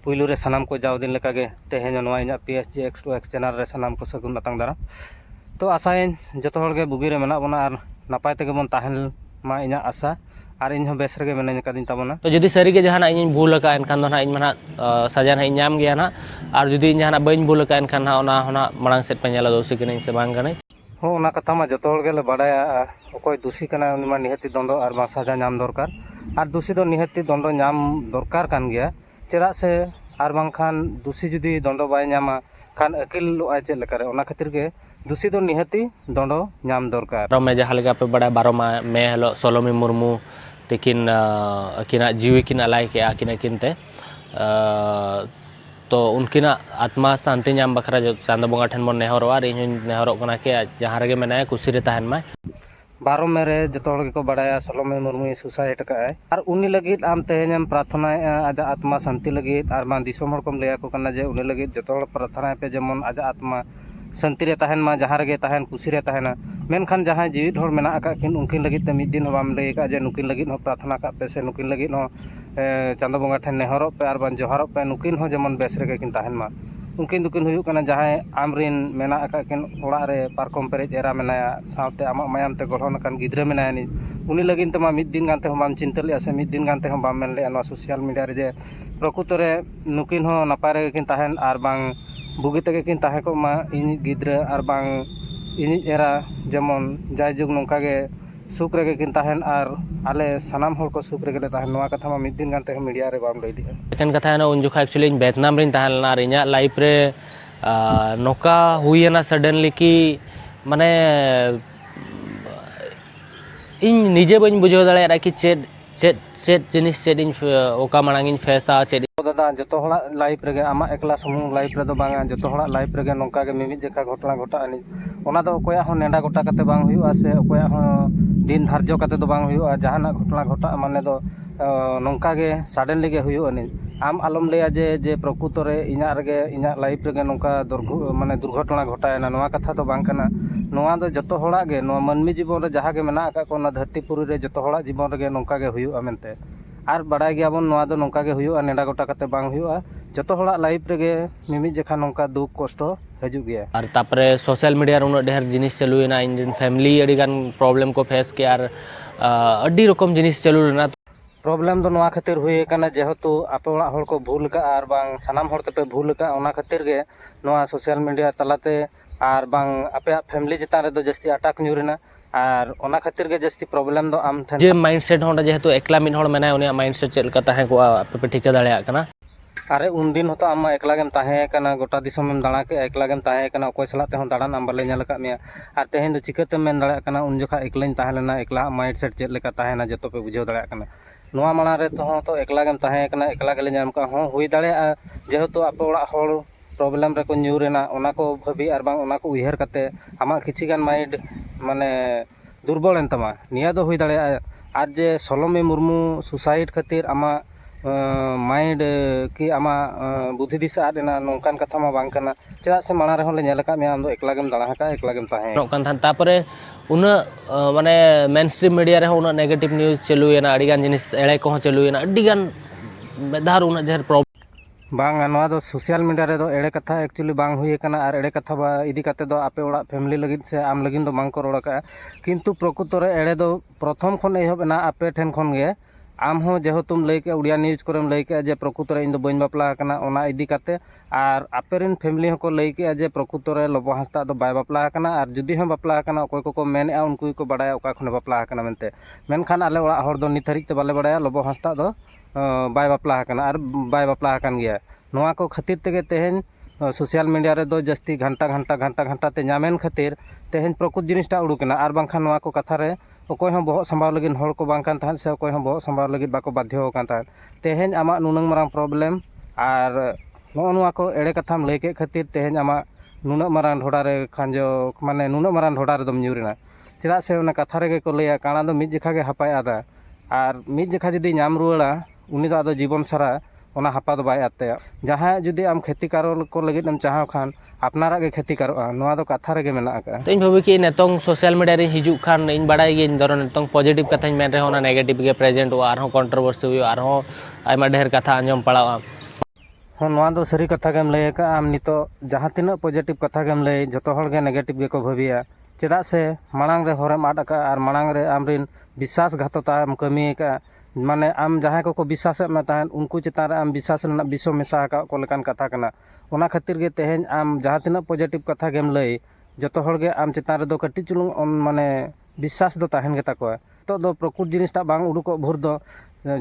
ᱯᱩᱭᱞᱩ ᱨᱮ ᱥᱟᱱᱟᱢ ᱠᱚ ᱡᱟᱣ ᱫᱤᱱ ᱞᱮᱠᱟᱜᱮ ᱛᱮᱦᱮᱧ ᱱᱚᱣᱟ ᱤᱧᱟᱹᱜ P S G X two X channel ᱨᱮ ᱥᱟᱱᱟᱢ ᱠᱚ ᱥᱟᱹᱜᱩᱱ ᱟᱛᱟᱝ ᱫᱟᱨᱟᱢ ᱛᱚ ᱟᱥᱟᱭᱟᱹᱧ ᱡᱚᱛᱚ ᱦᱚᱲᱜᱮ ᱵᱩᱜᱤ ᱨᱮ ᱢᱮᱱᱟᱜ ᱵᱚᱱᱟ ᱟᱨ ᱱᱟᱯᱟᱭ ᱛᱮᱜᱮ ᱵᱚᱱ ᱛᱟᱦᱮᱱ ᱢᱟ ᱤᱧᱟᱹᱜ ᱟᱥᱟ ᱟᱨ ᱤᱧ ᱦᱚᱸ ᱵᱮᱥ ᱨᱮᱜᱮ ᱢᱤᱱᱟᱹᱧ ᱟᱠᱟᱫᱤᱧ ᱛᱟᱵᱚᱱᱟ ᱛᱚ ᱡᱩᱫᱤ ᱥᱟᱹᱨᱤᱜᱮ ᱡᱟᱦᱟᱱᱟᱜ ᱤᱧᱤᱧ ᱵᱷᱩᱞ ᱟᱠᱟᱫᱼᱟ ᱮᱱᱠᱷᱟᱱ ᱫᱚ ᱱᱟᱦᱟᱜ ᱤᱧ ᱢᱟ ᱱᱟᱦᱟᱜ ᱥᱟᱡᱟ ᱱᱟᱦᱟᱜ ᱤᱧ ᱧᱟᱢ ᱜᱮᱭᱟ ᱱᱟᱦᱟᱜ ᱟᱨ ᱡᱩᱫᱤ ᱤᱧ ᱡᱟᱦᱟᱱᱟᱜ ᱵᱟᱹᱧ ᱵᱷᱩᱞ ᱟᱠᱟᱫᱼᱟ ᱮᱱᱠᱷᱟᱱ ᱱᱟᱦᱟᱜ ᱚᱱᱟ ᱦᱚᱸ ᱱᱟᱦᱟᱜ ᱢᱟᱲᱟᱝ ᱥᱮᱫ ᱯᱮ ᱧᱮᱞᱟ ᱫᱳᱥᱤ ᱠᱟᱹᱱᱟᱹᱧ ᱥᱮ ᱵᱟᱝ ᱠᱟᱹᱱᱟᱹᱧ ᱦᱚᱸ ᱚᱱᱟ ᱠᱟᱛᱷᱟ ᱢᱟ ᱡᱚᱛᱚ ᱦᱚᱲ ᱜᱮᱞᱮ ᱵᱟᱰᱟᱭᱟ ᱟᱨ ᱚᱠᱚᱭ ᱫᱩᱥᱤ ᱠᱟᱱᱟᱭ ᱩᱱᱤ ᱢᱟ ᱱᱤᱦᱟᱹᱛᱤ ᱫᱚᱱᱰᱚ ᱟᱨ ᱵᱟᱝ ᱥᱟᱡᱟ ᱧᱟᱢ ᱫᱚᱨᱠᱟᱨ ᱟᱨ ᱫᱩᱥᱤ ᱫᱚ ᱱᱤᱦᱟᱹᱛᱤ ᱫᱚᱱᱰᱚ ᱧᱟᱢ ᱫᱚᱨᱠᱟᱨ ᱠᱟᱱ ᱜᱮᱭᱟ ᱪᱮᱫᱟᱜ ᱥᱮ ᱟᱨ ᱵᱟᱝᱠᱷᱟᱱ ᱫᱩᱥᱤ ᱡᱩᱫᱤ ᱫᱚᱱᱰᱚ ᱵᱟᱭ ᱧᱟᱢᱟ ᱠᱷᱟᱱ ᱟᱹᱠᱤᱞᱚᱜᱼᱟᱭ ᱪᱮᱫ ᱞᱮᱠᱟᱨᱮ ᱚᱱᱟ ᱠᱷᱟᱹᱛᱤᱨ ᱜᱮ ᱫᱩᱥᱤ ᱫᱚ ᱱᱤᱦᱟᱹᱛᱤ ᱫᱚᱱᱰᱚ ᱧᱟᱢ ᱫᱚᱨᱠᱟᱨ ᱵᱟᱨᱚ ᱢᱮ ᱡᱟᱦᱟᱸ ᱞᱮᱠᱟ ᱯᱮ ᱵᱟᱲᱟᱭᱟ ᱵᱟᱨᱚ ᱢᱟ ᱢᱮ ᱦᱤᱞᱳᱜ ᱥᱚᱞᱚᱢᱤ ᱢᱩᱨᱢᱩ ᱛᱤᱠᱤᱱ ᱟᱹᱠᱤᱱᱟᱜ ᱡᱤᱣᱤ ᱠᱤᱱ ᱟᱞᱟᱭ ᱠᱮᱜᱼᱟ ᱟᱹᱠᱤᱱ ᱟᱹᱠᱤᱱ ᱛᱮ ᱛᱚ ᱩᱱᱠᱤᱱᱟᱜ ᱟᱛᱢᱟ ᱥᱟᱱᱛᱤ ᱧᱟᱢ ᱵᱟᱠᱷᱨᱟ ᱪᱟᱸᱫᱚ ᱵᱚᱸᱜᱟ ᱴᱷᱮᱱ ᱵᱚᱱ ᱱᱮᱦᱚᱨᱚᱜᱼᱟ ᱟᱨ ᱤᱧ ᱦᱚᱸᱧ ᱱᱮᱦᱚᱨᱚᱜ ᱠᱟᱱᱟ ᱠᱤ ᱟᱡ ᱡᱟᱦᱟᱸ ᱨᱮᱜᱮ ᱢᱮᱱᱟᱭᱟ ᱠᱩᱥᱤ ᱨᱮ ᱛᱟᱦᱮᱱ ᱢᱟᱭ᱾ ᱵᱟᱨᱚ ᱢᱮ ᱨᱮ ᱡᱚᱛᱚ ᱦᱚᱲ ᱜᱮᱠᱚ ᱵᱟᱰᱟᱭᱟ ᱥᱚᱞᱚᱢᱮ ᱢᱩᱨᱢᱩᱭ ᱥᱩᱥᱟᱭᱤᱰ ᱟᱠᱟᱫ ᱟᱭ ᱟᱨ ᱩᱱᱤ ᱞᱟᱹᱜᱤᱫ ᱟᱢ ᱛᱮᱦᱮᱧ ᱮᱢ ᱯᱨᱟᱨᱛᱷᱚᱱᱟᱭᱮᱫᱼᱟ ᱟᱡᱟᱜ ᱟᱛᱢᱟ ᱥᱟᱱᱛᱤ ᱞᱟᱹᱜᱤᱫ ᱟᱨ ᱵᱟᱝ ᱫᱤᱥᱚᱢ ᱦᱚᱲ ᱠᱚᱢ ᱞᱟᱹᱭ ᱟᱠᱚ ᱠᱟᱱᱟ ᱡᱮ ᱩᱱᱤ ᱞᱟᱹᱜᱤᱫ ᱡᱚᱛᱚ ᱦᱚᱲ ᱯᱨᱟᱨᱛᱷᱚᱱᱟᱭ ᱯᱮ ᱡᱮᱢᱚᱱ ᱟᱡᱟᱜ ᱟᱛᱢᱟ ᱥᱟᱱᱛᱤ ᱨᱮ ᱛᱟᱦᱮᱱ ᱢᱟ ᱡᱟᱦᱟᱸ ᱨᱮᱜᱮ ᱛᱟᱦᱮᱱ ᱠᱩᱥᱤ ᱨᱮ ᱛᱟᱦᱮᱱᱟ ᱢᱮᱱᱠᱷᱟᱱ ᱡᱟᱦᱟᱸᱭ ᱡᱤᱣᱤᱫ ᱦᱚᱲ ᱢᱮᱱᱟᱜ ᱟᱠᱟᱫ ᱠᱤᱱ ᱩᱱᱠᱤᱱ ᱞᱟᱹᱜᱤᱫ ᱛᱮ ᱢᱤᱫ ᱫᱤᱱ ᱦᱚᱸ ᱵᱟᱢ ᱞᱟᱹᱭ ᱟᱠᱟᱫᱼᱟ ᱡᱮ ᱱᱩᱠᱤᱱ ᱞᱟᱹᱜᱤᱫ ᱦᱚᱸ ᱯᱨᱟᱨᱛᱷᱚᱱᱟ ᱠᱟᱜ ᱯᱮ ᱥᱮ ᱱᱩᱠᱤᱱ ᱞᱟᱹᱜᱤᱫ ᱦᱚᱸ ᱪᱟᱸᱫᱚ ᱵᱚᱸᱜᱟ ᱴᱷᱮᱱ ᱱᱮᱦᱚᱨᱚᱜ ᱯᱮ ᱟᱨ ᱵᱟᱝ ᱡᱚᱦᱟᱨᱚᱜ ᱯᱮ ᱱᱩᱠᱤᱱ ᱦᱚᱸ ᱡᱮᱢᱚᱱ ᱵᱮᱥ ᱨᱮᱜᱮ ᱠᱤᱱ ᱛᱟᱦᱮᱱ ᱢᱟ ᱩᱱᱠᱤᱱ ᱫᱚᱠᱤᱱ ᱦᱩᱭᱩᱜ ᱠᱟᱱᱟ ᱡᱟᱦᱟᱸᱭ ᱟᱢ ᱨᱮᱱ ᱢᱮᱱᱟᱜ ᱟᱠᱟᱫ ᱠᱤᱱ ᱚᱲᱟᱜ ᱨᱮ ᱯᱟᱨᱠᱚᱢ ᱯᱮᱨᱮᱡ ᱮᱨᱟ ᱢᱮᱱᱟᱭᱟ ᱥᱟᱶᱛᱮ ᱟᱢᱟᱜ ᱢᱟᱭᱟᱢ ᱛᱮ ᱜᱚᱲᱦᱚᱱ ᱟᱠᱟᱱ ᱜᱤᱫᱽᱨᱟᱹ ᱢᱮᱱᱟᱭᱟ ᱩᱱᱤ ᱞᱟᱹᱜᱤᱫ ᱛᱮᱢᱟ ᱢᱤᱫ ᱫᱤᱱ ᱜᱟᱱ ᱛᱮᱦᱚᱸ ᱵᱟᱢ ᱪᱤᱱᱛᱟᱹ ᱞᱮᱫᱼᱟ ᱥᱮ ᱢᱤᱫ ᱫᱤᱱ ᱜᱟᱱ ᱛᱮᱦᱚᱸ ᱵᱟᱢ ᱢᱮᱱ ᱞᱮᱫᱼᱟ ᱱᱚᱣᱟ ᱥᱳᱥᱟᱞ ᱢᱤᱰᱤᱭᱟ ᱨᱮ ᱡᱮ ᱯᱨᱚᱠᱩᱛᱚ ᱨᱮ ᱱᱩᱠᱤᱱ ᱦᱚᱸ ᱱᱟᱯᱟᱭ ᱨᱮᱜᱮ ᱠᱤᱱ ᱛᱟᱦᱮᱱ ᱟᱨ ᱵᱟᱝ ᱵᱩᱜᱤ ᱛᱮᱜᱮ ᱠᱤᱱ ᱛᱟᱦᱮᱸ ᱠᱚᱜ ᱢᱟ ᱤᱧᱤᱡ ᱜᱤᱫᱽᱨᱟᱹ ᱟᱨ ᱵᱟᱝ ᱤᱧᱤᱡ ᱮᱨᱟ ᱡᱮᱢᱚᱱ ᱡᱟᱭᱡᱩᱜᱽ ᱱᱚᱝᱠᱟ ᱜᱮ ᱥᱩᱠ ᱨᱮᱜᱮ ᱠᱤᱱ ᱛᱟᱦᱮᱱ ᱟᱨ ᱟᱞᱮ ᱥᱟᱱᱟᱢ ᱦᱚᱲ ᱠᱚ ᱥᱩᱠ ᱨᱮᱜᱮ ᱞᱮ ᱛᱟᱦᱮᱱ ᱱᱚᱣᱟ ᱠᱟᱛᱷᱟ ᱢᱟ ᱢᱤᱫ ᱫᱤᱱ ᱜᱟᱱ ᱛᱮᱦᱚᱸ ᱢᱤᱰᱤᱭᱟ ᱨᱮ ᱵᱟᱢ ᱞᱟᱹᱭ ᱞᱮᱜᱼᱟ ᱮᱠᱮᱱ ᱠᱟᱛᱷᱟ ᱠᱟᱱᱟ ᱩᱱ ᱡᱚᱠᱷᱟᱡ ᱮᱠᱪᱩᱭᱮᱞᱤ ᱤᱧ ᱵᱷᱮᱛᱱᱟᱢ ᱨᱮᱧ ᱛᱟᱦᱮᱸ ᱞᱮᱱᱟ ᱟᱨ ᱤᱧᱟᱹᱜ ᱞᱟᱭᱤᱯᱷ ᱨᱮ ᱱᱚᱝᱠᱟ ᱦᱩᱭᱮᱱᱟ ᱥᱟᱰᱮᱱᱞᱤ ᱠᱤ ᱢᱟᱱᱮ ᱤᱧ ᱱᱤᱡᱮ ᱵᱟᱹᱧ ᱵᱩᱡᱷᱟᱹᱣ ᱫᱟᱲᱮᱭᱟᱫᱟ ᱠᱤ ᱪᱮᱫ ᱪᱮᱫ ᱪᱮᱫ ᱡᱤᱱᱤᱥ ᱪᱮᱫ ᱤᱧ ᱚᱠᱟ ᱢᱟᱲᱟᱝ ᱤᱧ ᱯᱷᱮᱥᱟ ᱪᱮᱫ ᱫᱟᱫᱟ ᱡᱚᱛᱚ ᱦᱚᱲᱟᱜ ᱞᱟᱭᱤᱯᱷ ᱨᱮᱜᱮ ᱟᱢᱟᱜ ᱮᱠᱞᱟ ᱥᱩᱢᱩᱝ ᱞᱟᱭᱤᱯᱷ ᱨᱮᱫᱚ ᱵᱟᱝᱟ ᱡᱚᱛᱚ ᱦᱚᱲᱟᱜ ᱞᱟᱭᱤᱯᱷ ᱨᱮᱜᱮ ᱱᱚᱝᱠᱟ ᱜᱮ ᱢᱤᱢᱤᱫ ᱡᱚᱠᱷᱟ ᱜᱷᱚᱴᱚᱱᱟ ᱜᱷᱚᱴᱟᱜ ᱟᱹᱱᱤᱡ ᱚᱱᱟ ᱫᱚ ᱚᱠᱚᱭᱟᱜ ᱦᱚᱸ ᱱᱮᱰᱟ ᱜᱚᱴᱟ ᱠᱟᱛᱮ ᱵᱟᱝ ᱦᱩᱭᱩᱜᱼᱟ ᱥᱮ ᱚᱠᱚᱭᱟᱜ ᱦᱚᱸ ᱫᱤᱱ ᱫᱷᱟᱨᱡᱚ ᱠᱟᱛᱮ ᱫᱚ ᱵᱟᱝ ᱦᱩᱭᱩᱜᱼᱟ ᱡᱟᱦᱟᱱᱟᱜ ᱜᱷᱚᱴᱚᱱᱟ ᱜᱷᱚᱴᱟᱜᱼᱟ ᱢᱟᱱᱮ ᱫᱚ ᱱᱚᱝᱠᱟ ᱜᱮ ᱥᱟᱰᱮᱱᱞᱤ ᱜᱮ ᱦᱩᱭᱩᱜ ᱟᱹᱱᱤᱡ ᱟᱢ ᱟᱞᱚᱢ ᱞᱟᱹᱭᱟ ᱡᱮ ᱡᱮ ᱯᱨᱚᱠᱩᱛᱚ ᱨᱮ ᱤᱧᱟᱹᱜ ᱨᱮᱜᱮ ᱤᱧᱟᱹᱜ ᱞᱟᱭᱤᱯᱷ ᱨᱮᱜᱮ ᱱᱚᱝᱠᱟ ᱫᱩᱨᱜᱷᱚ ᱢᱟᱱᱮ ᱫᱩᱨᱜᱷᱚᱴᱚᱱᱟ ᱜᱷᱚᱴᱟᱣᱮᱱᱟ ᱱᱚᱣᱟ ᱠᱟᱛᱷᱟ ᱫᱚ ᱵᱟᱝ ᱠᱟᱱᱟ ᱱᱚᱣᱟ ᱫᱚ ᱡᱚᱛᱚ ᱦᱚᱲᱟᱜ ᱜᱮ ᱱᱚᱣᱟ ᱢᱟᱹᱱᱢᱤ ᱡᱤᱵᱚᱱ ᱨᱮ ᱡᱟᱦᱟᱸ ᱜᱮ ᱢᱮᱱᱟᱜ ᱟᱠᱟᱫ ᱠᱚ ᱚᱱᱟ ᱫᱷᱟᱹᱨᱛᱤ ᱯᱩᱨᱤ ᱨᱮ ᱡᱚᱛᱚ ᱦᱚᱲᱟᱜ ᱡᱤᱵᱚᱱ ᱨᱮᱜᱮ ᱱᱚᱝᱠᱟ ᱜᱮ ᱦᱩᱭᱩᱜᱼᱟ ᱢᱮᱱᱛᱮ ᱟᱨ ᱵᱟᱲᱟᱭ ᱜᱮᱭᱟᱵᱚᱱ ᱱᱚᱣᱟ ᱫᱚ ᱱᱚᱝᱠᱟ ᱜᱮ ᱦᱩᱭᱩᱜᱼᱟ ᱱᱮᱰᱟ ᱜᱚᱴᱟ ᱠᱟᱛᱮ ᱵᱟᱝ ᱦᱩᱭᱩᱜᱼᱟ ᱡᱚᱛᱚ ᱦᱚᱲᱟᱜ ᱞᱟᱭᱤᱯᱷ ᱨᱮᱜᱮ ᱢᱤᱢᱤᱫ ᱡᱮᱠᱷᱟ ᱱᱚᱝᱠᱟ ᱫᱩᱠ ᱠᱚᱥᱴᱚ ᱦᱤᱡᱩᱜ ᱜᱮᱭᱟ ᱟᱨ ᱛᱟᱯᱚᱨᱮ ᱥᱳᱥᱟᱞ ᱢᱤᱰᱤᱭᱟ ᱨᱮ ᱩᱱᱟᱹᱜ ᱰᱷᱮᱨ ᱡᱤᱱᱤᱥ ᱪᱟᱹᱞᱩᱭᱮᱱᱟ ᱤᱧ ᱨᱮᱱ ᱯᱷᱮᱢᱞᱤ ᱟᱹᱰᱤ ᱜᱟᱱ ᱯᱨᱚᱵᱞᱮᱢ ᱠᱚ ᱯᱷᱮᱥ ᱠᱮᱜᱼᱟ ᱟᱨ ᱟᱹᱰᱤ ᱨᱚᱠᱚᱢ ᱡᱤᱱᱤᱥ ᱪᱟᱹᱞᱩ ᱞᱮᱱᱟ ᱯᱨᱚᱵᱞᱮᱢ ᱫᱚ ᱱᱚᱣᱟ ᱠᱷᱟᱹᱛᱤᱨ ᱦᱩᱭ ᱟᱠᱟᱱᱟ ᱡᱮᱦᱮᱛᱩ ᱟᱯᱮ ᱚᱲᱟᱜ ᱦᱚᱲ ᱠᱚ ᱵᱷᱩᱞ ᱟᱠᱟᱫᱼᱟ ᱟᱨ ᱵᱟᱝ ᱥᱟᱱᱟᱢ ᱦᱚᱲ ᱛᱮᱯᱮ ᱵᱷᱩᱞ ᱟᱠᱟᱫᱼᱟ ᱚᱱᱟ ᱠᱷᱟᱹᱛᱤᱨ ᱜᱮ ᱱᱚᱣᱟ ᱥᱳᱥᱟᱞ ᱢᱤᱰᱤᱭᱟ ᱛᱟᱞᱟᱛᱮ ᱟᱨ ᱵᱟᱝ ᱟᱯᱮᱭᱟᱜ ᱯᱷᱮᱢᱤᱞᱤ ᱪᱮᱛᱟᱱ ᱨᱮᱫᱚ ᱡᱟᱹᱥᱛᱤ ᱟᱴᱟᱠ ᱧᱩᱨ ᱮᱱᱟ ᱟᱨ ᱚᱱᱟ ᱠᱷᱟᱹᱛᱤᱨ ᱜᱮ ᱡᱟᱹᱥᱛᱤ ᱯᱨᱚᱵᱞᱮᱢ ᱫᱚ ᱟᱢ ᱴᱷᱮᱱ ᱡᱮ ᱢᱟᱭᱤᱱᱰ ᱥᱮᱴ ᱦᱚᱸ ᱚᱸᱰᱮ ᱡᱮᱦᱮᱛᱩ ᱮᱠᱞᱟ ᱢᱤᱫ ᱦᱚᱲ ᱢᱮᱱᱟᱭᱟ ᱩᱱᱤᱭᱟᱜ ᱢᱟᱭᱤᱱᱰ ᱥᱮᱴ ᱪᱮᱫ ᱞᱮᱠᱟ ᱛᱟᱦᱮᱸ ᱠᱚᱜᱼᱟ ᱟᱯᱮ ᱯᱮ ᱴᱷᱤᱠᱟᱹ ᱫᱟᱲᱮᱭᱟᱜ ᱠᱟᱱᱟ ᱟᱨᱮ ᱩᱱᱫᱤᱱ ᱦᱚᱸᱛᱚ ᱟᱢ ᱢᱟ ᱮᱠᱞᱟ ᱜᱮᱢ ᱛᱟᱦᱮᱸ ᱠᱟᱱᱟ ᱜᱚᱴᱟ ᱫᱤᱥᱚᱢᱮᱢ ᱫᱟᱬᱟ ᱠᱮᱜᱼᱟ ᱮᱠᱞᱟ ᱜᱮᱢ ᱛᱟᱦᱮᱸ ᱠᱟᱱᱟ ᱚᱠᱚᱭ ᱥᱟᱞᱟᱜ ᱛᱮᱦᱚᱸ ᱫᱟᱬᱟᱱ ᱟᱢ ᱵᱟᱞᱮ ᱧᱮᱞ ᱟᱠᱟᱫ ᱢᱮᱭᱟ ᱟᱨ ᱛᱮᱦᱮᱧ ᱫᱚ ᱪᱤᱠᱟᱹᱛᱮᱢ ᱢᱮᱱ ᱫᱟᱲᱮᱭᱟᱜ ᱠᱟᱱᱟ ᱩᱱ ᱡᱚᱠᱷᱟᱡ ᱮᱠᱞᱟᱧ ᱛᱟᱦᱮᱸ ᱞᱮᱱᱟ ᱮᱠᱞᱟ ᱟᱜ ᱢᱟᱭᱤᱱᱰ ᱥᱮᱴ ᱪᱮᱫ ᱞᱮᱠᱟ ᱛᱟᱦᱮᱱᱟ ᱡᱚᱛᱚ ᱯᱮ ᱵᱩᱡᱷᱟᱹᱣ ᱫᱟᱲᱮᱭᱟᱜ ᱠᱟᱱᱟ ᱱᱚᱣᱟ ᱢᱟᱲᱟᱝ ᱨᱮᱦᱚᱸ ᱛᱚ ᱮᱠᱞᱟ ᱜᱮᱢ ᱛᱟᱦᱮᱸ ᱠᱟᱱᱟ ᱮᱠᱞᱟ ᱜᱮᱞᱮ ᱧᱟᱢ ᱠᱟᱜᱼᱟ ᱦᱚᱸ ᱦᱩᱭ ᱫᱟᱲᱮᱭᱟᱜᱼᱟ ᱡᱮᱦᱮᱛᱩ ᱟᱯᱮ ᱚᱲᱟᱜ ᱦᱚᱲ ᱯᱨᱚᱵᱞᱮᱢ ᱨᱮᱠᱚ ᱧᱩᱨ ᱮᱱᱟ ᱚᱱᱟ ᱠᱚ ᱵᱷᱟᱹᱵᱤ ᱟᱨ ᱵᱟᱝ ᱚᱱᱟ ᱠᱚ ᱩᱭᱦᱟᱹᱨ ᱠᱟᱛᱮ ᱟᱢᱟᱜ ᱠᱤᱪᱷᱩ ᱜᱟᱱ ᱢᱟᱭᱤᱰ ᱢᱟᱱᱮ ᱫᱩᱨᱵᱚᱞ ᱮᱱ ᱛᱟᱢᱟ ᱱᱤᱭᱟᱹ ᱫᱚ ᱦᱩᱭ ᱫᱟᱲᱮᱭᱟᱜᱼᱟ ᱟᱨ ᱡᱮ ᱥᱳᱞᱳᱢᱤ ᱢᱩᱨᱢᱩ ᱥᱩᱥᱟᱭᱤᱰ ᱠᱷᱟᱹᱛᱤᱨ ᱟᱢᱟᱜ ᱢᱟᱭᱤᱰ ᱠᱤ ᱟᱢᱟᱜ ᱵᱩᱫᱷᱤ ᱫᱤᱥᱟᱹ ᱟᱫ ᱮᱱᱟ ᱱᱚᱝᱠᱟᱱ ᱠᱟᱛᱷᱟ ᱢᱟ ᱵᱟᱝ ᱠᱟᱱᱟ ᱪᱮᱫᱟᱜ ᱥᱮ ᱢᱟᱲᱟᱝ ᱨᱮᱦᱚᱸ ᱞᱮ ᱧᱮᱞ ᱟᱠᱟᱫ ᱢᱮᱭᱟ ᱟᱢ ᱫᱚ ᱮᱠᱞᱟ ᱜᱮᱢ ᱫᱟᱬᱟ ᱟᱠᱟᱫᱼᱟ ᱮᱠᱞᱟ ᱜᱮᱢ ᱛᱟᱦᱮᱸ ᱥᱮᱱᱚᱜ ᱠᱟᱱ ᱛᱟᱦᱮᱸᱫ ᱛᱟᱨᱯᱚᱨᱮ ᱩᱱᱟᱹᱜ ᱢᱟᱱᱮ ᱢᱮᱱ ᱥᱴᱨᱤᱢ ᱢᱤᱰᱤᱭᱟ ᱨᱮᱦᱚᱸ ᱩᱱᱟᱹᱜ ᱱᱮᱜᱮᱴᱤᱵᱷ ᱱᱤᱭᱩᱡᱽ ᱪᱟᱹᱞᱩᱭᱮᱱᱟ ᱟᱹᱰᱤ ᱜᱟᱱ ᱡᱤᱱᱤᱥ ᱮᱲᱮ ᱠᱚᱦᱚᱸ ᱪᱟᱹᱞᱩᱭᱮᱱᱟ ᱟᱹᱰᱤ ᱜᱟᱱ ᱢᱤᱫ ᱫᱷᱟᱣ ᱨᱮ ᱩᱱᱟᱹᱜ ᱰᱷᱮᱨ ᱯᱨᱚᱵᱞᱮᱢ ᱵᱟᱝᱟ ᱱᱚᱣᱟ ᱫᱚ ᱥᱳᱥᱟᱞ ᱢᱤᱰᱤᱭᱟ ᱨᱮᱫᱚ ᱮᱲᱮ ᱠᱟᱛᱷᱟ ᱮᱠᱪᱩᱭᱮᱞᱤ ᱵᱟᱝ ᱦᱩᱭ ᱠᱟᱱᱟ ᱟᱨ ᱮᱲᱮ ᱠᱟᱛᱷᱟ ᱵᱟ ᱤᱫᱤ ᱠᱟᱛᱮ ᱫᱚ ᱟᱯᱮ ᱚᱲᱟᱜ ᱯᱷᱮᱢᱮᱞᱤ ᱞᱟᱹᱜᱤᱫ ᱥᱮ ᱟᱢ ᱞᱟᱹᱜᱤᱫ ᱫᱚ ᱵᱟᱝ ᱠᱚ ᱨᱚᱲ ᱠᱟᱜᱼᱟ ᱠᱤᱱᱛᱩ ᱯᱨᱚᱠᱩᱛᱚ ᱨᱮ ᱮᱲᱮ ᱫᱚ ᱯᱨᱚᱛᱷᱚᱢ ᱠᱷᱚᱱ ᱮᱦᱚᱵ ᱮᱱᱟ ᱟᱯᱮ ᱴᱷᱮᱱ ᱠᱷᱚᱱ ᱜᱮ ᱟᱢ ᱦᱚᱸ ᱡᱮᱦᱮᱛᱩᱢ ᱞᱟᱹᱭ ᱠᱮᱜᱼᱟ ᱩᱰᱤᱭᱟ ᱱᱤᱭᱩᱡᱽ ᱠᱚᱨᱮᱢ ᱞᱟᱹᱭ ᱠᱮᱜᱼᱟ ᱡᱮ ᱯᱨᱚᱠᱩᱛᱚ ᱨᱮ ᱤᱧ ᱫᱚ ᱵᱟᱹᱧ ᱵᱟᱯᱞᱟ ᱟᱠᱟᱱᱟ ᱚᱱᱟ ᱤᱫᱤ ᱠᱟᱛᱮ ᱟᱨ ᱟᱯᱮ ᱨᱮᱱ ᱯᱷᱮᱢᱮᱞᱤ ᱦᱚᱸᱠᱚ ᱞᱟᱹᱭ ᱠᱮᱜᱼᱟ ᱡᱮ ᱯᱨᱚᱠᱩᱛᱚ ᱨᱮ ᱞᱚᱵᱚ ᱦᱟᱸᱥᱫᱟ ᱫᱚ ᱵᱟᱭ ᱵᱟᱯᱞᱟ ᱟᱠᱟᱱᱟ ᱟᱨ ᱡᱩᱫᱤ ᱦᱚᱸ ᱵᱟᱯᱞᱟ ᱟᱠᱟᱱᱟ ᱚᱠᱚᱭ ᱠᱚᱠᱚ ᱢᱮᱱᱮᱜᱼᱟ ᱩᱱᱠᱩ ᱜᱮᱠᱚ ᱵᱟᱲᱟᱭᱟ ᱚᱠᱟ ᱠᱷᱚᱱᱮ ᱵᱟᱯᱞᱟ ᱟᱠᱟᱱᱟ ᱢᱮᱱᱛᱮ ᱢᱮᱱᱠᱷᱟᱱ ᱟᱞᱮ ᱚᱲᱟᱜ ᱦᱚᱲ ᱫᱚ ᱱᱤᱛ ᱦᱟᱹᱨᱤᱡ ᱛᱮ ᱵᱟᱞᱮ ᱵᱟᱲᱟᱭᱟ ᱞᱚᱵᱚ ᱦᱟᱸᱥᱫᱟ ᱫᱚ ᱵᱟᱭ ᱵᱟᱯᱞᱟ ᱟᱠᱟᱱᱟ ᱟᱨ ᱵᱟᱭ ᱵᱟᱯᱞᱟ ᱟᱠᱟᱱ ᱜᱮᱭᱟ ᱱᱚᱣᱟ ᱠᱚ ᱠᱷᱟᱹᱛᱤᱨ ᱛᱮᱜᱮ ᱛᱮᱦᱮᱧ ᱥᱳᱥᱟᱞ ᱢᱤᱰᱤᱭᱟ ᱨᱮᱫᱚ ᱡᱟᱹᱥᱛᱤ ᱜᱷᱟᱱᱴᱟ ᱜᱷᱟᱱᱴᱟ ᱜᱷᱟᱱᱴᱟ ᱜᱷᱟᱱᱴᱟ ᱛᱮ ᱧᱟᱢᱮᱱ ᱠᱷᱟᱹᱛᱤᱨ ᱛᱮᱦᱮᱧ ᱯᱨᱚᱠᱩᱛ ᱡᱤᱱᱤᱥᱴᱟ ᱩᱰᱩᱠ ᱮᱱᱟ ᱟᱨ ᱵᱟᱝᱠᱷᱟᱱ ᱱᱚᱣᱟ ᱠᱚ ᱠᱟᱛᱷᱟ ᱨᱮ ᱚᱠᱚᱭ ᱦᱚᱸ ᱵᱚᱦᱚᱜ ᱥᱟᱢᱵᱟᱣ ᱞᱟᱹᱜᱤᱫ ᱦᱚᱲ ᱠᱚ ᱵᱟᱝ ᱠᱟᱱ ᱛᱟᱦᱮᱸᱫ ᱥᱮ ᱚᱠᱚᱭ ᱦᱚᱸ ᱵᱚᱦᱚᱜ ᱥᱟᱢᱵᱟᱣ ᱞᱟᱹᱜᱤᱫ ᱵᱟᱠᱚ ᱵᱟᱫᱽᱫᱷᱚ ᱟᱠᱟᱱ ᱛᱟᱦᱮᱸᱫ ᱛᱮᱦᱮᱧ ᱟᱢᱟᱜ ᱱᱩᱱᱟᱹᱝ ᱢᱟᱨᱟᱝ ᱯᱨᱚᱵᱞᱮᱢ ᱟᱨ ᱱᱚᱜᱼᱚ ᱱᱚᱣᱟ ᱠᱚ ᱮᱲᱮ ᱠᱟᱛᱷᱟᱢ ᱞᱟᱹᱭ ᱠᱮᱫ ᱠᱷᱟᱹᱛᱤᱨ ᱛᱮᱦᱮᱧ ᱟᱢᱟᱜ ᱱᱩᱱᱟᱹᱜ ᱢᱟᱨᱟᱝ ᱰᱷᱚᱰᱟ ᱨᱮ ᱠᱷᱟᱧᱡᱚ ᱢᱟᱱᱮ ᱱᱩᱱᱟᱹᱜ ᱢᱟᱨᱟᱝ ᱰᱷᱚᱰᱟ ᱨᱮᱫᱚᱢ ᱧᱩᱨ ᱮᱱᱟ ᱪᱮᱫᱟᱜ ᱥᱮ ᱚᱱᱟ ᱠᱟᱛᱷᱟ ᱨᱮᱜᱮ ᱠᱚ ᱞᱟᱹᱭᱟ ᱠᱟᱬᱟ ᱫᱚ ᱢᱤᱫ ᱡᱚᱠᱷᱟ ᱜᱮ ᱦᱟᱯᱟᱭ ᱟᱫᱟ ᱟᱨ ᱢᱤᱫ ᱡᱚᱠᱷᱟ ᱡᱩᱫᱤ ᱧᱟᱢ ᱨᱩᱣᱟᱹᱲᱟ ᱩᱱᱤ ᱫᱚ ᱟᱫᱚ ᱡᱤᱵᱚᱱ ᱥᱟᱨᱟ ᱚᱱᱟ ᱦᱟᱯᱟ ᱫᱚ ᱵᱟᱭ ᱟᱫ ᱛᱟᱭᱟ ᱡᱟᱦᱟᱸᱭᱟᱜ ᱡᱩᱫᱤ ᱟᱢ ᱠᱷᱮᱛᱤ ᱠᱟᱨᱚᱱ ᱠᱚ ᱞᱟᱹᱜᱤᱫ ᱮᱢ ᱪᱟᱦᱟᱣ ᱠᱷᱟᱱ ᱟᱯᱱᱟᱨᱟᱜ ᱜᱮ ᱠᱷᱮᱛᱤ ᱠᱟᱨᱚᱜᱼᱟ ᱱᱚᱣᱟ ᱫᱚ ᱠᱟᱛᱷᱟ ᱨᱮᱜᱮ ᱢᱮᱱᱟᱜ ᱟᱠᱟᱫᱼᱟ ᱛᱚ ᱤᱧ ᱵᱷᱟᱹᱵᱤ ᱠᱮᱫᱟᱹᱧ ᱱᱤᱛᱚᱝ ᱥᱳᱥᱟᱞ ᱢᱤᱰᱤᱭᱟ ᱨᱤᱧ ᱦᱤᱡᱩᱜ ᱠᱷᱟᱱ ᱤᱧ ᱵᱟᱲᱟᱭ ᱜᱤᱭᱟᱹᱧ ᱫᱷᱚᱨᱚ ᱱᱤᱛᱚᱝ ᱯᱚᱡᱮᱴᱤᱵᱷ ᱠᱟᱛᱷᱟᱧ ᱢᱮᱱ ᱨᱮᱦᱚᱸ ᱚᱱᱟ ᱱᱮᱜᱮᱴᱤᱵᱷ ᱜᱮ ᱯᱨᱮᱡᱮᱱᱴᱚᱜᱼᱟ ᱟᱨᱦᱚᱸ ᱠᱚᱱᱴᱨᱚᱵᱷᱟᱨᱥᱤ ᱦᱩᱭᱩᱜᱼᱟ ᱟᱨᱦᱚᱸ ᱟᱭᱢᱟ ᱰᱷᱮᱨ ᱠᱟᱛᱷᱟ ᱟᱸᱡᱚᱢ ᱯᱟᱲᱟᱜᱼᱟ ᱦᱮᱸ ᱱᱚᱣᱟ ᱫᱚ ᱥᱟᱹᱨᱤ ᱠᱟᱛᱷᱟ ᱜᱮᱢ ᱞᱟᱹᱭ ᱟᱠᱟᱫᱼᱟ ᱟᱢ ᱱᱤᱛᱚᱜ ᱡᱟᱦᱟᱸ ᱛᱤᱱᱟᱹᱜ ᱯᱚᱡᱮᱴᱤᱵᱷ ᱠᱟᱛᱷᱟ ᱜᱮᱢ ᱞᱟᱹᱭ ᱡᱚᱛᱚ ᱦᱚᱲ ᱜᱮ ᱱᱮᱜᱮᱴᱤᱵᱷ ᱜᱮᱠᱚ ᱵᱷᱟᱹᱵᱤᱭᱟ ᱪᱮᱫᱟᱜ ᱥᱮ ᱢᱟᱲᱟᱝ ᱨᱮ ᱦᱚᱨᱮᱢ ᱟᱫ ᱟᱠᱟᱫᱼᱟ ᱟᱨ ᱢᱟᱲᱟᱝ ᱨᱮ ᱟᱢ ᱨᱮᱱ ᱵᱤᱥᱥᱟᱥ ᱜᱷᱟᱛᱚᱛᱟᱭᱮᱢ ᱠᱟᱹᱢᱤ ᱟᱠᱟᱫᱼᱟ ᱢᱟᱱᱮ ᱟᱢ ᱡᱟᱦᱟᱸᱭ ᱠᱚᱠᱚ ᱵᱤᱥᱥᱟᱥᱮᱫ ᱢᱮ ᱛᱟᱦᱮᱸᱫ ᱩᱱᱠᱩ ᱪᱮᱛᱟᱱ ᱨᱮ ᱟᱢ ᱵᱤᱥᱥᱟᱥ ᱨᱮᱱᱟᱜ ᱵᱤᱥ ᱦᱚᱸ ᱢᱮᱥᱟ ᱟᱠᱟᱫ ᱠᱚ ᱞᱮᱠᱟᱱ ᱠᱟᱛᱷᱟ ᱠᱟᱱᱟ ᱚᱱᱟ ᱠᱷᱟᱹᱛᱤᱨ ᱜᱮ ᱛᱮᱦᱮᱧ ᱟᱢ ᱡᱟᱦᱟᱸ ᱛᱤᱱᱟᱹᱜ ᱯᱚᱡᱮᱴᱤᱵᱽ ᱠᱟᱛᱷᱟ ᱜᱮᱢ ᱞᱟᱹᱭ ᱡᱚᱛᱚ ᱦᱚᱲ ᱜᱮ ᱟᱢ ᱪᱮᱛᱟᱱ ᱨᱮᱫᱚ ᱠᱟᱹᱴᱤᱡ ᱪᱩᱞᱩᱝ ᱢᱟᱱᱮ ᱵᱤᱥᱥᱟᱥ ᱫᱚ ᱛᱟᱦᱮᱱ ᱜᱮᱛᱟ ᱠᱚᱣᱟ ᱱᱤᱛᱚᱜ ᱫᱚ ᱯᱨᱚᱠᱩᱛ ᱡᱤᱱᱤᱥᱴᱟᱜ ᱵᱟᱝ ᱩᱰᱩᱠᱚᱜ ᱵᱷᱳᱨ ᱫᱚ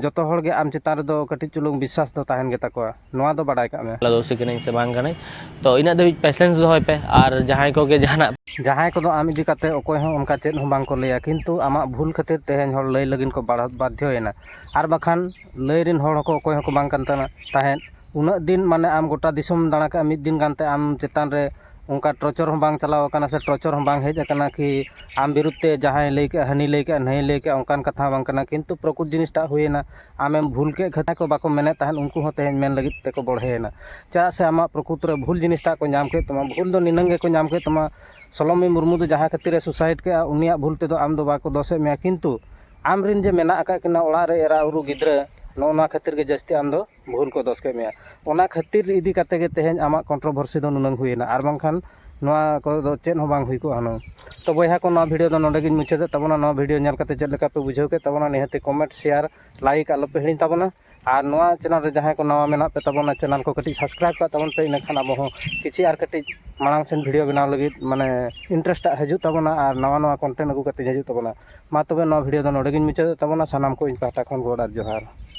ᱡᱚᱛᱚ ᱦᱚᱲ ᱜᱮ ᱟᱢ ᱪᱮᱛᱟᱱ ᱨᱮᱫᱚ ᱠᱟᱹᱴᱤᱡ ᱪᱩᱞᱩᱝ ᱵᱤᱥᱥᱟᱥ ᱫᱚ ᱛᱟᱦᱮᱱ ᱜᱮᱛᱟ ᱠᱚᱣᱟ ᱱᱚᱣᱟ ᱫᱚ ᱵᱟᱰᱟᱭ ᱠᱟᱜ ᱢᱮ ᱫᱳᱥᱤ ᱠᱟᱹᱱᱟᱹᱧ ᱥᱮ ᱵᱟᱝ ᱠᱟᱹᱱᱟᱹᱧ ᱛᱚ ᱤᱱᱟᱹᱜ ᱫᱷᱟᱹᱵᱤᱡ ᱯᱮᱥᱮᱱᱥ ᱫᱚᱦᱚᱭ ᱯᱮ ᱟᱨ ᱡᱟᱦᱟᱸᱭ ᱠᱚᱜᱮ ᱡᱟᱦᱟᱱᱟᱜ ᱡᱟᱦᱟᱸᱭ ᱠᱚᱫᱚ ᱟᱢ ᱤᱫᱤ ᱠᱟᱛᱮ ᱚᱠᱚᱭ ᱦᱚᱸ ᱚᱱᱠᱟ ᱪᱮᱫ ᱦᱚᱸ ᱵᱟᱝ ᱠᱚ ᱞᱟᱹᱭᱟ ᱠᱤᱱᱛᱩ ᱟᱢᱟᱜ ᱵᱷᱩᱞ ᱠᱷᱟᱹᱛᱤᱨ ᱛᱮᱦᱮᱧ ᱦᱚᱲ ᱞᱟᱹᱭ ᱞᱟᱹᱜᱤᱫ ᱠᱚ ᱵᱟᱫᱽᱫᱷᱚᱭᱮᱱᱟ ᱟᱨ ᱵᱟᱠᱷᱟᱱ ᱞᱟᱹᱭ ᱨᱮᱱ ᱦᱚᱲ ᱦᱚᱸᱠᱚ ᱚᱠᱚᱭ ᱦᱚᱸᱠᱚ ᱵᱟᱝ ᱠᱟᱱ ᱛᱟᱦᱮᱸᱫ ᱩᱱᱟᱹᱜ ᱫᱤᱱ ᱢᱟᱱᱮ ᱟᱢ ᱜᱚᱴᱟ ᱫᱤᱥᱚᱢ ᱫᱟᱬᱟ ᱠᱮᱜᱼᱟ ᱢᱤᱫ ᱫᱤᱱ ᱜᱟᱱᱛᱮ ᱟᱢ ᱪᱮᱛᱟᱱ ᱨᱮ ᱚᱱᱠᱟ ᱴᱚᱨᱪᱚᱨ ᱦᱚᱸ ᱵᱟᱝ ᱪᱟᱞᱟᱣ ᱠᱟᱱᱟ ᱥᱮ ᱴᱚᱨᱪᱚᱨ ᱦᱚᱸ ᱵᱟᱝ ᱦᱮᱡ ᱠᱟᱱᱟ ᱠᱤ ᱟᱢ ᱵᱤᱨᱩᱫᱷ ᱛᱮ ᱡᱟᱦᱟᱸᱭ ᱞᱟᱹᱭ ᱠᱮᱜᱼᱟ ᱦᱟᱹᱱᱤ ᱞᱟᱹᱭ ᱠᱮᱜᱼᱟ ᱱᱟᱹᱭ ᱞᱟᱹᱭ ᱠᱮᱜᱼᱟ ᱚᱱᱠᱟᱱ ᱠᱟᱛᱷᱟ ᱦᱚᱸ ᱵᱟᱝ ᱠᱟᱱᱟ ᱠᱤᱱᱛᱩ ᱯᱨᱚᱠᱩᱛ ᱡᱤᱱᱤᱥᱴᱟᱜ ᱦᱩᱭᱮᱱᱟ ᱟᱢᱮᱢ ᱵᱷᱩᱞ ᱠᱮᱜ ᱠᱷᱟᱹᱛᱤᱨ ᱡᱟᱦᱟᱸᱭ ᱠᱚ ᱵᱟᱠᱚ ᱢᱮᱱᱮᱜ ᱛᱟᱦᱮᱸᱜ ᱩᱱᱠᱩ ᱦᱚᱸ ᱛᱮᱦᱮᱧ ᱢᱮᱱ ᱞᱟᱹᱜᱤᱫ ᱛᱮᱠᱚ ᱵᱚᱲᱦᱮᱭᱮᱱᱟ ᱪᱮᱫᱟᱜ ᱥᱮ ᱟᱢᱟᱜ ᱯᱨᱚᱠᱩᱛ ᱨᱮ ᱵᱷᱩᱞ ᱡᱤᱱᱤᱥᱴᱟᱜ ᱠᱚ ᱧᱟᱢ ᱠᱮᱜ ᱛᱟᱢᱟ ᱵᱷᱩᱞ ᱫᱚ ᱱᱤᱱᱟᱹᱝ ᱜᱮᱠᱚ ᱧᱟᱢ ᱠᱮᱜ ᱛᱟᱢᱟ ᱥᱳᱞᱳᱢᱤ ᱢᱩᱨᱢᱩ ᱫᱚ ᱡᱟᱦᱟᱸ ᱠᱷᱟᱹᱛᱤᱨ ᱥᱩᱥᱟᱭᱤᱰ ᱠᱮᱜᱼᱟ ᱩᱱᱤᱭᱟᱜ ᱵᱷᱩᱞ ᱛᱮᱫᱚ ᱟᱢ ᱫᱚ ᱵᱟᱠᱚ ᱫᱳᱥᱮᱜ ᱢᱮᱭᱟ ᱠᱤᱱᱛᱩ ᱟᱢ ᱨᱮᱱ ᱡᱮ ᱢᱮᱱᱟᱜ ᱠᱟᱜ ᱠᱤᱱᱟ ᱚᱲᱟᱜ ᱨᱮ ᱮᱨᱟᱼᱩᱨᱩ ᱜᱤᱫᱽᱨᱟᱹ ᱱᱚᱜᱼᱚ ᱱᱚᱣᱟ ᱠᱷᱟᱹᱛᱤᱨ ᱜᱮ ᱡᱟᱹᱥᱛᱤ ᱟᱢ ᱫᱚ ᱵᱷᱩᱞ ᱠᱚ ᱫᱚᱥ ᱠᱮᱫ ᱢᱮᱭᱟ ᱚᱱᱟ ᱠᱷᱟᱹᱛᱤᱨ ᱤᱫᱤ ᱠᱟᱛᱮ ᱜᱮ ᱛᱮᱦᱮᱧ ᱟᱢᱟᱜ ᱠᱚᱱᱴᱨᱚᱵᱷᱟᱨᱥᱤ ᱫᱚ ᱱᱩᱱᱟᱹᱝ ᱦᱩᱭᱮᱱᱟ ᱟᱨ ᱵᱟᱝᱠᱷᱟᱱ ᱱᱚᱣᱟ ᱠᱚᱨᱮ ᱫᱚ ᱪᱮᱫ ᱦᱚᱸ ᱵᱟᱝ ᱦᱩᱭ ᱠᱚᱜᱼᱟ ᱦᱩᱱᱟᱹᱝ ᱛᱚ ᱵᱚᱭᱦᱟ ᱠᱚ ᱱᱚᱣᱟ ᱵᱷᱤᱰᱤᱭᱳ ᱫᱚ ᱱᱚᱰᱮ ᱜᱤᱧ ᱢᱩᱪᱟᱹᱫᱮᱫ ᱛᱟᱵᱚᱱᱟ ᱱᱚᱣᱟ ᱵᱷᱤᱰᱤᱭᱳ ᱧᱮᱞ ᱠᱟᱛᱮ ᱪᱮᱫ ᱞᱮᱠᱟ ᱯᱮ ᱵᱩᱡᱷᱟᱹᱣ ᱠᱮᱫ ᱛᱟᱵᱚᱱᱟ ᱱᱤᱦᱟᱹᱛᱤ ᱠᱚᱢᱮᱱᱴ ᱥᱮᱭᱟᱨ ᱞᱟᱭᱤᱠ ᱟᱞᱚ ᱯᱮ ᱦᱤᱲᱤᱧ ᱛᱟᱵᱚᱱᱟ ᱟᱨ ᱱᱚᱣᱟ ᱪᱮᱱᱮᱞ ᱨᱮ ᱡᱟᱦᱟᱸᱭ ᱠᱚ ᱱᱟᱣᱟ ᱢᱮᱱᱟᱜ ᱯᱮ ᱛᱟᱵᱚᱱᱟ ᱪᱮᱱᱮᱞ ᱠᱚ ᱠᱟᱹᱴᱤᱡ ᱥᱟᱵᱥᱠᱨᱟᱭᱤᱵᱽ ᱠᱟᱜ ᱛᱟᱵᱚᱱ ᱯᱮ ᱤᱱᱟᱹᱠᱷᱟᱱ ᱟᱵᱚ ᱦᱚᱸ ᱠᱤᱪᱷᱩ ᱟᱨ ᱠᱟᱹᱴᱤᱡ ᱢᱟᱲᱟᱝ ᱥᱮᱱ ᱵᱷᱤᱰᱤᱭᱳ ᱵᱮᱱᱟᱣ ᱞᱟᱹᱜᱤᱫ ᱢᱟᱱᱮ ᱤᱱᱴᱟᱨᱮᱥᱴ ᱟᱜ ᱦᱤᱡᱩᱜ ᱛᱟᱵᱚᱱᱟ ᱟᱨ ᱱᱟᱣᱟ ᱱᱟᱣᱟ ᱠᱚᱱᱴᱮᱱᱴ ᱟᱹᱜᱩ ᱠᱟᱛᱮ ᱦᱤᱡᱩᱜ ᱛᱟᱵᱚᱱᱟ ᱢᱟ ᱛᱚᱵᱮ ᱱᱚᱣᱟ ᱵᱷᱤᱰᱤᱭᱳ ᱫᱚ ᱱᱚᱰᱮ ᱜᱤᱧ ᱢᱩᱪᱟᱹᱫᱮᱫ ᱛᱟᱵᱚᱱᱟ ᱥᱟᱱᱟᱢ ᱠᱚ ᱤᱧ ᱯᱟᱦᱴᱟ ᱠᱷᱚᱱ ᱜᱚᱰ ᱟᱨ ᱡᱚᱦᱟᱨ